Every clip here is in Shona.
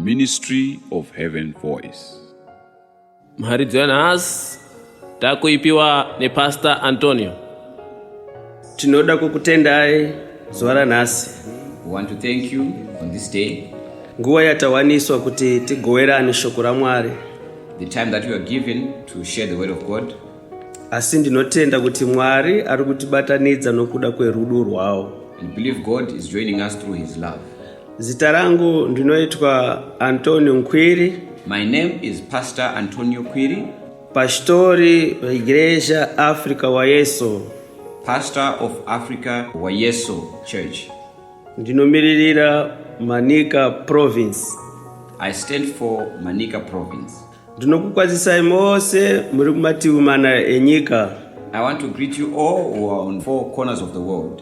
Ministry of Heaven Voice. Mharidzo yanhasi Takuipiwa nePastor Antonio. Tinoda kukutendai zuva ranhasi. We want to thank you on this day. Nguva yatawaniswa kuti tigowerane shoko raMwari. The time that we are given to share the word of God. Asi ndinotenda kuti Mwari ari kutibatanidza nokuda kwerudo rwawo. And believe God is joining us through his love. Zita rangu ndinoitwa Antonio Nkwiri. My name is Pastor Antonio Kwiri. Pastori veIgreja Africa waYesu. Pastor of Africa waYesu Church. Ndinomiririra Manica Province. I stand for Manica Province. Ndinokukwazisai mose muri kumativi mana enyika. I want to greet you all who are on four corners of the world.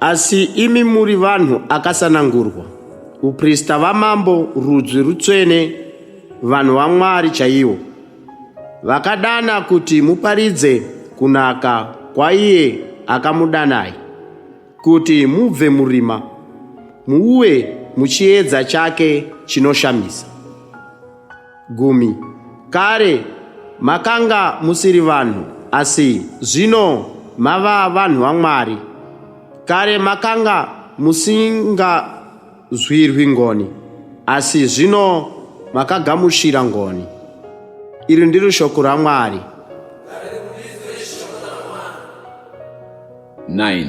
Asi imi muri vanhu akasanangurwa, uprista vamambo, rudzwi rutsvene, vanhu vaMwari chaiwo, vakadana kuti muparidze kunaka kwaiye akamudanai, kuti mubve murima, muuye muchiedza chake chinoshamisa. Gumi. Kare makanga musiri vanhu, asi zvino mava vanhu vaMwari. Kare makanga musingazwirwi ngoni, asi zvino makagamuchira ngoni. Iri ndiri shoko raMwari. 9.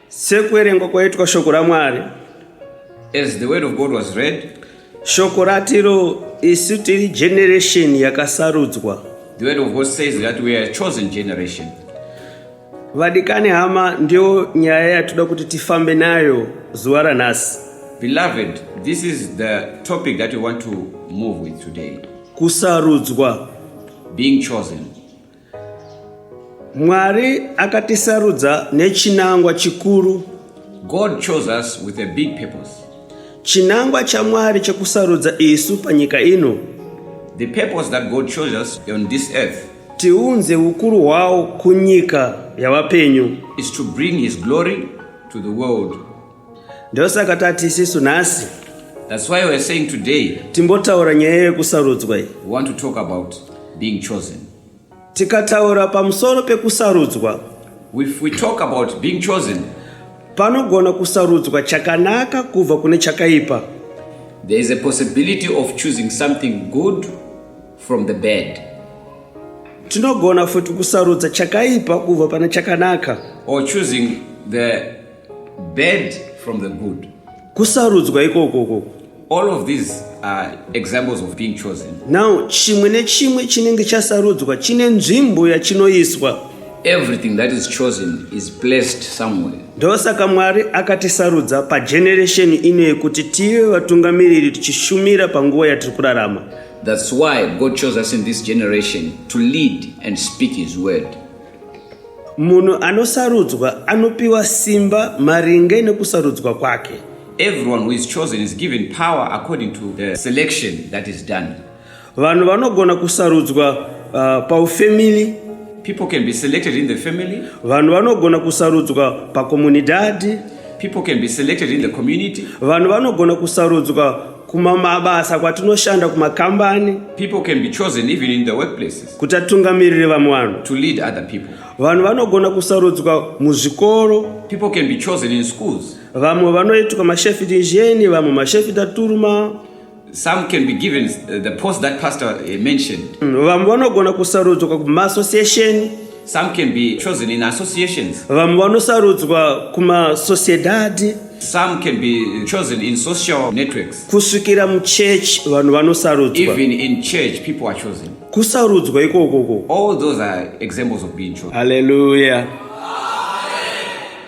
Sekuverengwa kwaitwa shoko raMwari. As the word of God was read. Shoko ratiro isu tiri generation yakasarudzwa. The word of God says that we are a chosen generation. Vadikani hama ndiyo nyaya yatoda kuti tifambe nayo zuva ranhasi. Beloved, this is the topic that we want to move with today. Kusarudzwa. Being chosen. Mwari akatisarudza nechinangwa chikuru. God chose us with a big purpose. Chinangwa chaMwari chekusarudza isu panyika ino. The purpose that God chose us on this earth. Tiunze ukuru hwawo kunyika yavapenyu. Is to bring his glory to the world. ndosaka tati isisu nhasi That's why we're saying today. Timbotaura nyaya yekusarudzwa iyi. We want to talk about being chosen. Tikataura pamusoro pekusarudzwa. If we talk about being chosen. Panogona kusarudzwa chakanaka kubva kune chakaipa. There is a possibility of choosing something good from the bad. Tinogona futi kusarudza chakaipa kubva pane chakanaka. Or choosing the Bad from the good. Kusarudzwa ikoko koko. All of these are examples of being chosen. Now chimwe nechimwe chinenge chasarudzwa chine nzvimbo yachinoiswa. Everything that is chosen is placed somewhere. Ndosaka Mwari akatisarudza pageneration ino yekuti tive vatungamiriri tichishumira panguva yatiri kurarama. That's why God chose us in this generation to lead and speak his word. Munhu anosarudzwa anopiwa simba maringe nekusarudzwa kwake. Everyone who is chosen is given power according to the selection that is done. Vanhu vanogona kusarudzwa uh, paufamily. People can be selected in the family. Vanhu vanogona kusarudzwa pakomunidadi. People can be selected in the community. Vanhu vanogona kusarudzwa kumamabasa kwatinoshanda kumakambani. People can be chosen even in the workplaces. kuti atungamirire vamwe vanhu to lead other people vanhu vanogona kusarudzwa muzvikoro people can be chosen in schools vamwe vanoitwa mashefiti njeni vamwe mashefiti aturuma some can be given uh, the post that pastor uh, mentioned mm, vamwe vanogona kusarudzwa kumaasociation some can be chosen in associations vamwe vanosarudzwa kumasociedadi some can be chosen in social networks kusvikira muchurch vanhu vanosarudzwa even in church people are chosen Kusarudzwa ikokoko. All those are examples of being chosen. Hallelujah.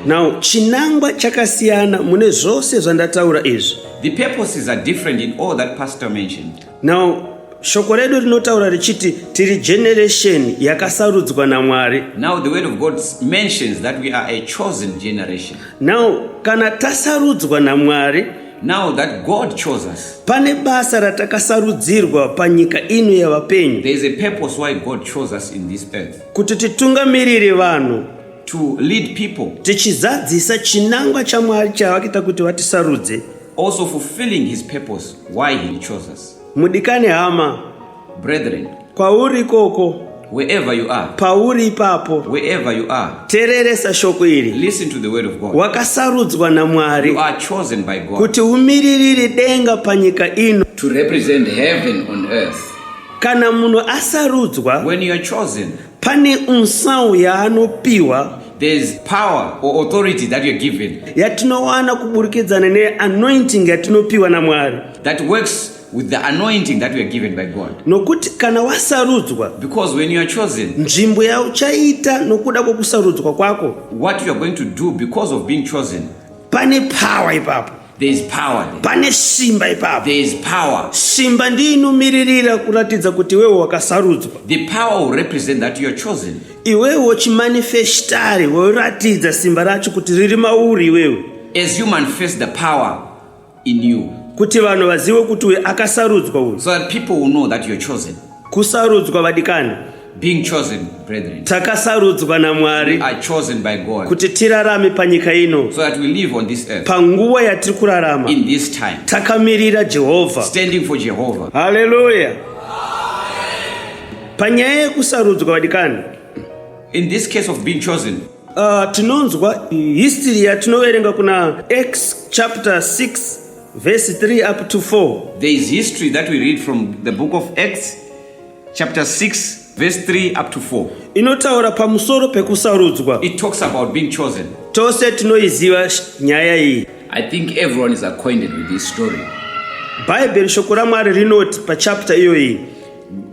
Now, chinangwa chakasiyana mune zvose zvandataura izvi. The purposes are different in all that pastor mentioned. Now, shoko redu rinotaura richiti tiri generation yakasarudzwa namwari now the word of god mentions that we are a chosen generation now kana tasarudzwa namwari Now that God chose us. Pane basa ratakasarudzirwa panyika ino yavapenyu. There is a purpose why God chose us in this earth. Kuti titungamirire vanhu. To lead people. Tichizadzisa chinangwa chaMwari chavakita kuti vatisarudze. Also fulfilling his purpose why he chose us. Mudikani hama. Brethren. Kwauri ikoko. Wherever you are. Pauri ipapo. Wherever you are. Tereresa shoko iri. Listen to the word of God. Wakasarudzwa naMwari. You are chosen by God. Kuti umiririre denga panyika ino. To represent heaven on earth. Kana munhu asarudzwa. When you are chosen. Pane unsawu yaanopiwa. there's power or authority that you're given yatinowana kuburikidzana neanointing yatinopiwa namwari that works With the anointing that we are given by God. nokuti kana wasarudzwa Because when you are chosen, nzvimbo yauchaita nokuda kwokusarudzwa kwako what you are going to do because of being chosen, pane power ipapo there is power there. pane simba ipapo There is power. simba ndiyo inomiririra kuratidza kuti iwewe wakasarudzwa The power will represent that you are chosen. iwewe chimanifestari woratidza simba racho kuti riri mauri iwewe As you manifest the power, in you kuti vanhu vazive kuti uye akasarudzwa uyu so that people will know that you're chosen kusarudzwa vadikani being chosen brethren takasarudzwa namwari are chosen by god kuti tirarame panyika ino so that we live on this earth panguva yatiri kurarama in this time takamirira jehovha standing for jehovha haleluya panyaya yekusarudzwa vadikani in this case of being chosen Uh, tinonzwa history yatinoverenga kuna Acts chapter 6 verse 3 up to 4. There is history that we read from the book of Acts chapter 6 verse 3 up to 4. Inotaura pamusoro pekusarudzwa. It talks about being chosen. Tose tinoiziva nyaya iyi. I think everyone is acquainted with this story. Bible shoko raMwari rinoti pachapter iyoyi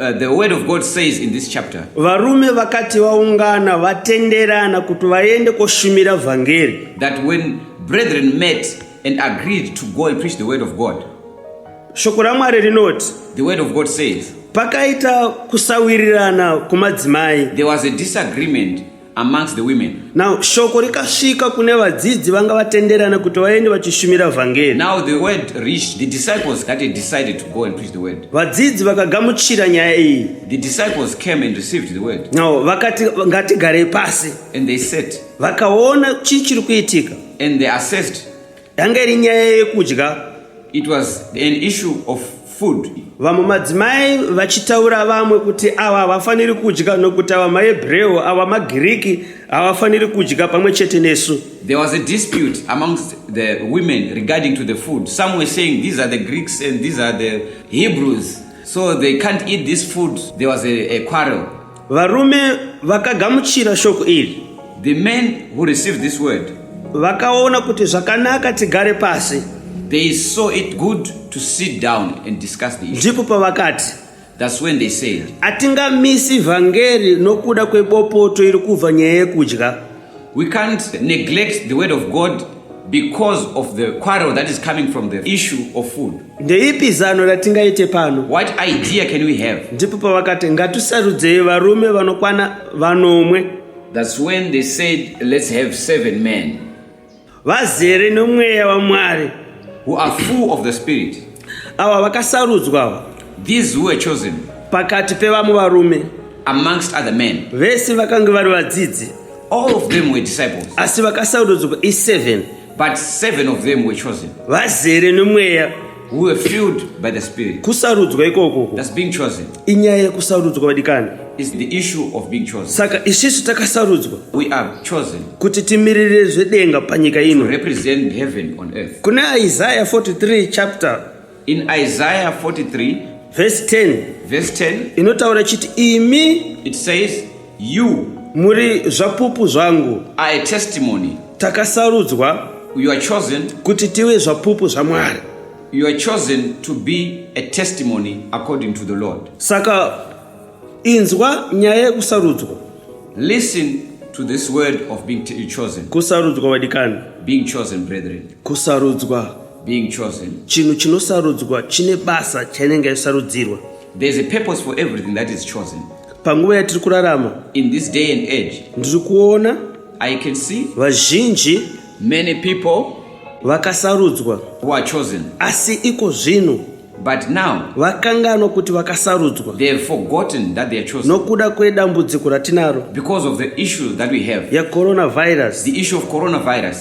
Uh, the word of God says in this chapter. Varume vakati vaungana vatenderana kuti vaende koshumira vhangeri. That when brethren met and agreed to go and preach the word of God. Shoko raMwari rinoti. The word of God says. Pakaita kusawirirana kumadzimai. There was a disagreement amongst the women. Now shoko rikasvika kune vadzidzi vanga vatenderana kuti vaende vachishumira vhangeri. Now the word reached the disciples that they decided to go and preach the word. Vadzidzi vakagamuchira nyaya iyi. The disciples came and received the word. Now vakati ngatigare pasi. And they sat. Vakaona chii chiri kuitika. And they assessed Yanga iri nyaya yekudya. It was an issue of food. Vamwe madzimai vachitaura vamwe kuti ava havafaniri kudya nokuti ava maHebreu ava maGiriki havafaniri kudya pamwe chete nesu. There was a dispute amongst the women regarding to the food. Some were saying these are the Greeks and these are the Hebrews. So they can't eat this food. There was a, a quarrel. Varume vakagamuchira shoko iri. The men who received this word. Vakaona kuti zvakanaka tigare pasi. They saw it good to sit down and discuss the issue. Ndipo pavakati. That's when they said. Atingamisi vhangeri nokuda kwebopoto iri kubva nyaya yekudya. We can't neglect the word of God because of the quarrel that is coming from the issue of food. Ndeipi zano ratingaite pano? What idea can we have? Ndipo pavakati ngatisarudzei varume vanokwana vanomwe. That's when they said let's have seven men. vazere nomweya wamwari who are full of the spirit ava vakasarudzwa ava these who were chosen pakati pevamwe varume amongst other men vese vakange vari vadzidzi all of them were disciples asi vakasarudzwa i7 but seven of them were chosen vazere nomweya who were filled by the Spirit. Kusarudzwa ikoko. That's being chosen. Inyaya yekusarudzwa vadikani. It's the issue of being chosen. Saka isisu takasarudzwa. We are chosen. Kuti timirire zvedenga panyika ino. To represent heaven on earth. Kuna Isaiah 43 chapter. In Isaiah 43 verse 10. Verse 10. Inotaura chiti imi. It says You. Muri zvapupu zvangu. Are a testimony. Takasarudzwa. You are chosen. Kuti tive zvapupu zvaMwari. You are chosen to be a testimony according to the Lord. Saka inzwa nyaya yekusarudzwa. Listen to this word of being chosen. Kusarudzwa vadikani. Being chosen brethren. Kusarudzwa. Being chosen. Chinhu chinosarudzwa chine basa chainenge yasarudzirwa. There is a purpose for everything that is chosen. Panguva yatiri kurarama. In this day and age. Ndiri kuona. I can see. Vazhinji. Many people. Vakasarudzwa. Who are chosen. Asi iko zvino. But now, vakanganwa kuti vakasarudzwa nokuda kwedambudziko ratinaro yecoronavirus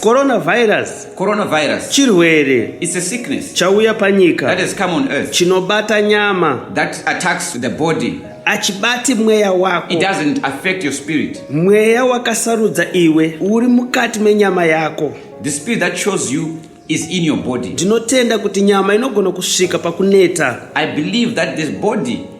coronavirus Coronavirus chirwere is a sickness chauya panyika that has come on earth chinobata nyama that attacks the body achibati mweya wako it doesn't affect your spirit mweya wakasarudza iwe uri mukati menyama yako the spirit that chose you is in your body ndinotenda kuti nyama inogona kusvika pakuneta i believe that this body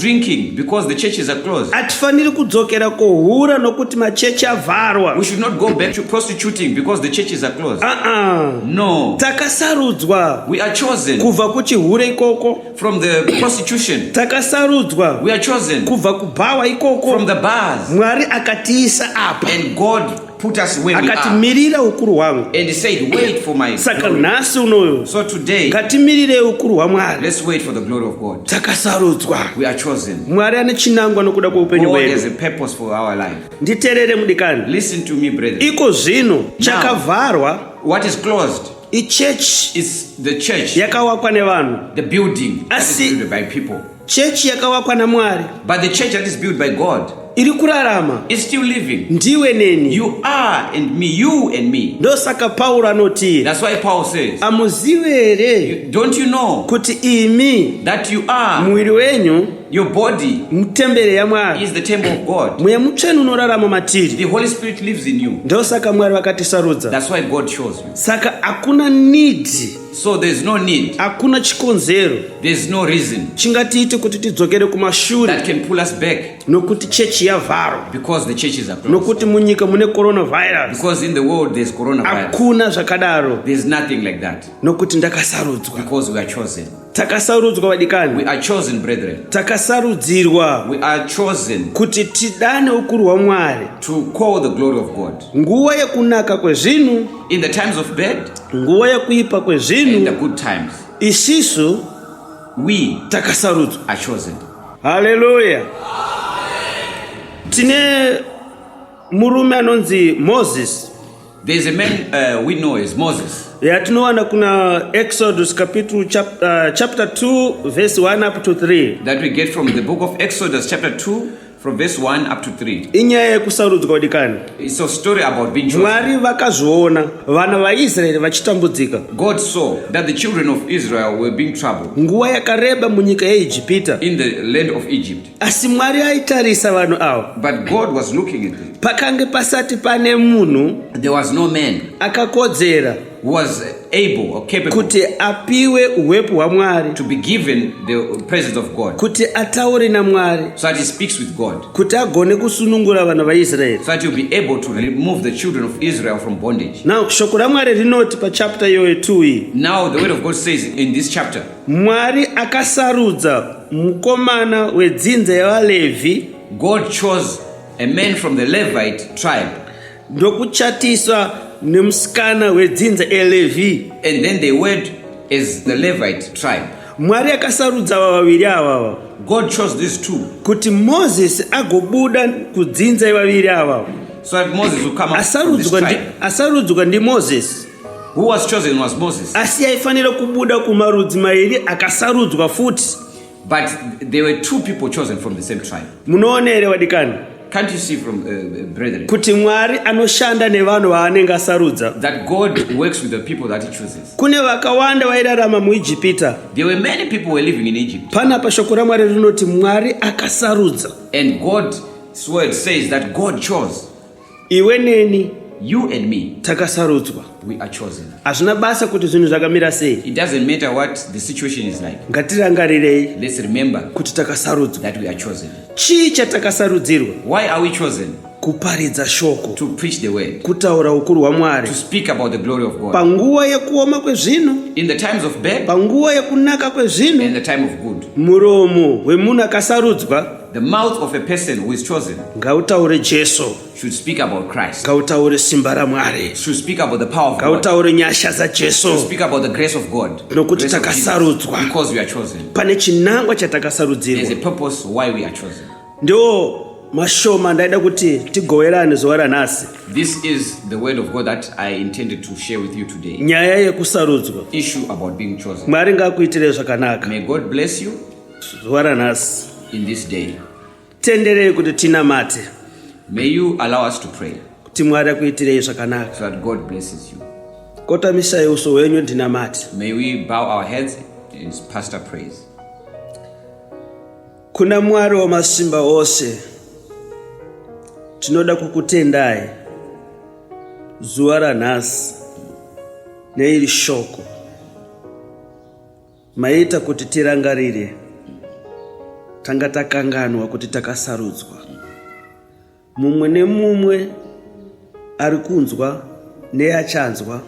drinking because the churches are closed. Hatifaniri kudzokera kuhura nokuti machechi avharwa. We should not go back to prostituting because the churches are closed. Uh-uh. No. Takasarudzwa. We are chosen. Kubva kuchihure ikoko. From the prostitution. Takasarudzwa. We are chosen. Kubva kubhawa ikoko. From the bars. Mwari akatiisa apa. And God Put us where we are. Akatimirira ukuru hwangu. And he said, wait for my Saka nhasi unoyo. So today. Ngatimirire ukuru hwaMwari. Let's wait for the glory of God. Takasarudzwa. We are chosen. Mwari ane chinangwa nokuda kweupenyu hwedu. God has a purpose for our life. Nditerere mudikani. Listen to me brethren. Iko zvino chakavharwa. What is closed? Ichurch. Is the church. Yakawakwa nevanhu. The building. Asi. That is built by people. chechi yakavakwa namwari but the church that is built by god iri kurarama is still living ndiwe neni you are and me you and me ndosaka pauro anoti that's why paul says amuzive here don't you know kuti imi that you are muviri wenyu your body mutembere yamwari is the temple of god mweya mutsvene unorarama matiri the holy spirit lives in you ndosaka mwari vakatisarudza that's why god chose you saka hakuna need So there's no need. Hakuna chikonzero. There's no reason. Chingatiite kuti tidzokere kumashure. That can pull us back. Nokuti church yavharwa. Because the churches are closed. Nokuti munyika mune coronavirus. Because in the world there's coronavirus. Hakuna zvakadaro. There's nothing like that. Nokuti ndakasarudzwa. Because we are chosen. takasarudzwa vadikani takasarudzirwa kuti tidane ukuru hwamwari nguva yekunaka kwezvinhu nguva yekuipa kwezvinhu isisu takasarudzwa haleluya tine murume anonzi moses There is a man uh, we know as Moses. yatinowana kuna exodus capital chap, uh, chapter 2 verse 1 up to 3 That we get from the book of Exodus, chapter 2, From verse 1 up to 3. Inyaya yekusarudzwa dikani. It's a story about being chosen. Mwari vakazviona vana vaIsraeri vachitambudzika. God saw that the children of Israel were being troubled. Nguva yakareba munyika yeIjipita. In the land of Egypt. Asi Mwari aitarisa vanhu ava. But God was looking at them. Pakange pasati pane munhu. There was no man. Akakodzera. was able or capable kuti apiwe uwepo hwamwari to be given the presence of god kuti ataure namwari so that he speaks with god kuti agone kusunungura vana vaisraeri so that he'll be able to remove the children of israel from bondage now shoko ramwari rinoti pachapter iyoyo 2 iyi now the word of god says in this chapter mwari akasarudza mukomana wedzinza yevalevhi god chose a man from the levite tribe ndokuchatiswa nemusikana wedzinza eLevi. And then they went as the Levite tribe. Mwari akasarudza ava vaviri avava. God chose these two. Kuti Moses agobuda kudzinza ivaviri avava. So that Moses would come out from this tribe. Asarudzwa ndi Moses. Who was chosen was Moses. Asi aifanira kubuda kumarudzi mairi akasarudzwa futi. But there were two people chosen from the same tribe. Munoona here vadikani? Can't you see from uh, uh brethren? Kuti Mwari anoshanda nevanhu vaanenge asarudza. That God works with the people that he chooses. Kune vakawanda vairarama muIjipita. There were many people were living in Egypt. Pana pashoko raMwari rinoti Mwari akasarudza. And God word says that God chose. iwe neni you and me takasarudzwa we are chosen hazvina basa kuti zvinhu zvakamira sei it doesn't matter what the situation is like ngatirangarirei let's remember kuti takasarudzwa that we are chosen chii chatakasarudzirwa why are we chosen kuparidza shoko to preach the word kutaura ukuru hwamwari to speak about the glory of god panguva yekuoma kwezvinhu in the times of bad panguva yekunaka kwezvinhu in the time of good muromo wemunhu akasarudzwa The mouth of a person who is chosen ngautaure Jesu should speak about Christ ngautaure simba raMwari should speak about the power of God ngautaure nyasha dzaJesu should speak about the grace of God nokuti takasarudzwa because we are chosen pane chinangwa chatakasarudzirwa there's a purpose why we are chosen ndiwo mashoma ndaida kuti tigowerane zuva ranhasi this is the word of god that i intended to share with you today nyaya yekusarudzwa issue about being chosen mwari ngaakuitire zvakanaka may god bless you zuva ranhasi in this day tenderei kuti tinamate may you allow us to pray kuti mwari akuitirei zvakanaka so that god blesses you kotamisai uso hwenyu ndinamate may we bow our heads in pastor praise kuna mwari wamasimba ose tinoda kukutendai zuva ranhasi neiri shoko Maita kuti tirangarire tanga takanganwa kuti takasarudzwa. Mumwe nemumwe ari kunzwa neachanzwa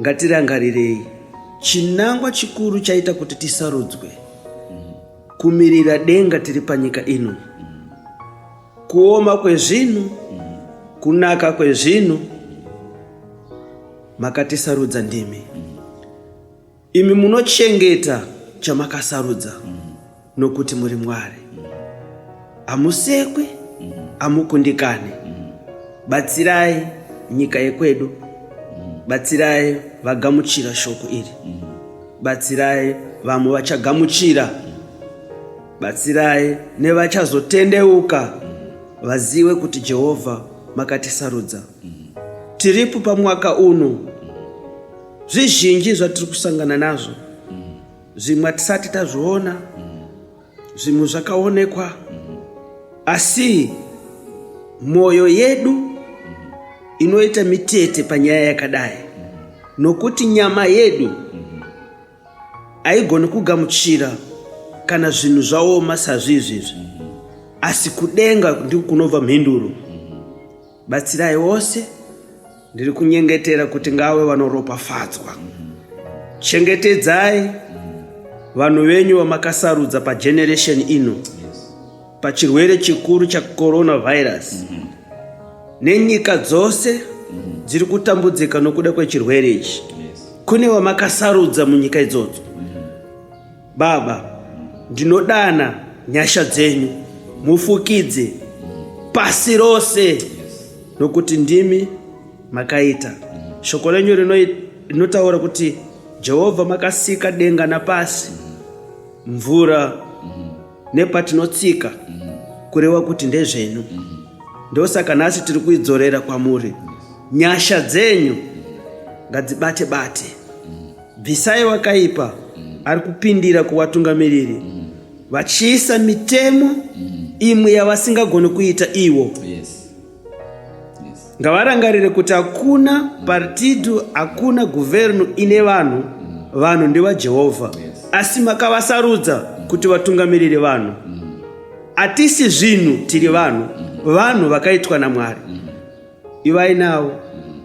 ngatirangarirei chinangwa chikuru chaita kuti tisarudzwe kumirira denga tiri panyika ino kuoma kwezvinhu kunaka kwezvinhu makatisarudza ndimi imi munochengeta chamakasarudza mm. nokuti muri mwari hamusekwi mm. hamukundikani mm. batsirai nyika yekwedu batsirai vagamuchira shoko iri batsirai vamwe vachagamuchira batsirai nevachazotendeuka vazive kuti jehovha makatisarudza tiripo pamwaka uno zvizhinji zvatiri kusangana nazvo zvimwe hatisati tazviona zvimwe zvakaonekwa asi mwoyo yedu inoita mitete panyaya yakadai nokuti nyama yedu haigoni kugamuchira kana zvinhu zvaoma sazvizvizvi asi kudenga ndiko kunobva mhinduro Batsirai wose ndiri kunyengetera kuti ngawe vanoropafadzwa. Chengetedzai vanhu venyu vamakasarudza pageneration ino pachirwere chikuru chacoronavirus mm-hmm. nenyika dzose mm-hmm. dziri kutambudzika nokuda kwechirwere ichi kune vamakasarudza munyika idzodzo Baba, ndinodana nyasha dzenyu mufukidze pasi rose nokuti ndimi makaita. Shoko renyu rinotaura kuti Jehovha makasika denga napasi, mvura nepatinotsika, kureva kuti ndezvenyu. Ndosaka nhasi tiri kuidzorera kwamuri. Nyasha dzenyu ngadzibate bate. bvisai wakaipa mm. ari kupindira kuvatungamiriri mm. vachiisa mitemo mm. imwe yavasingagoni kuita iwo yes. ngavarangarire kuti hakuna mm. partido hakuna guvernu ine vanhu mm. vanhu ndevajehovha yes. asi makavasarudza mm. kuti vatungamirire vanhu mm. atisi zvinhu tiri vanhu mm. vanhu vakaitwa namwari mm. ivai navo mm.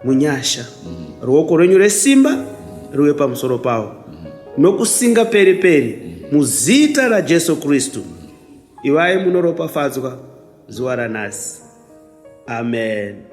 munyasha ruoko rwenyu resimba ruve pamusoro pavo nokusinga peri peri muzita rajesu kristu ivai munoropafadzwa zuva ranhasi amen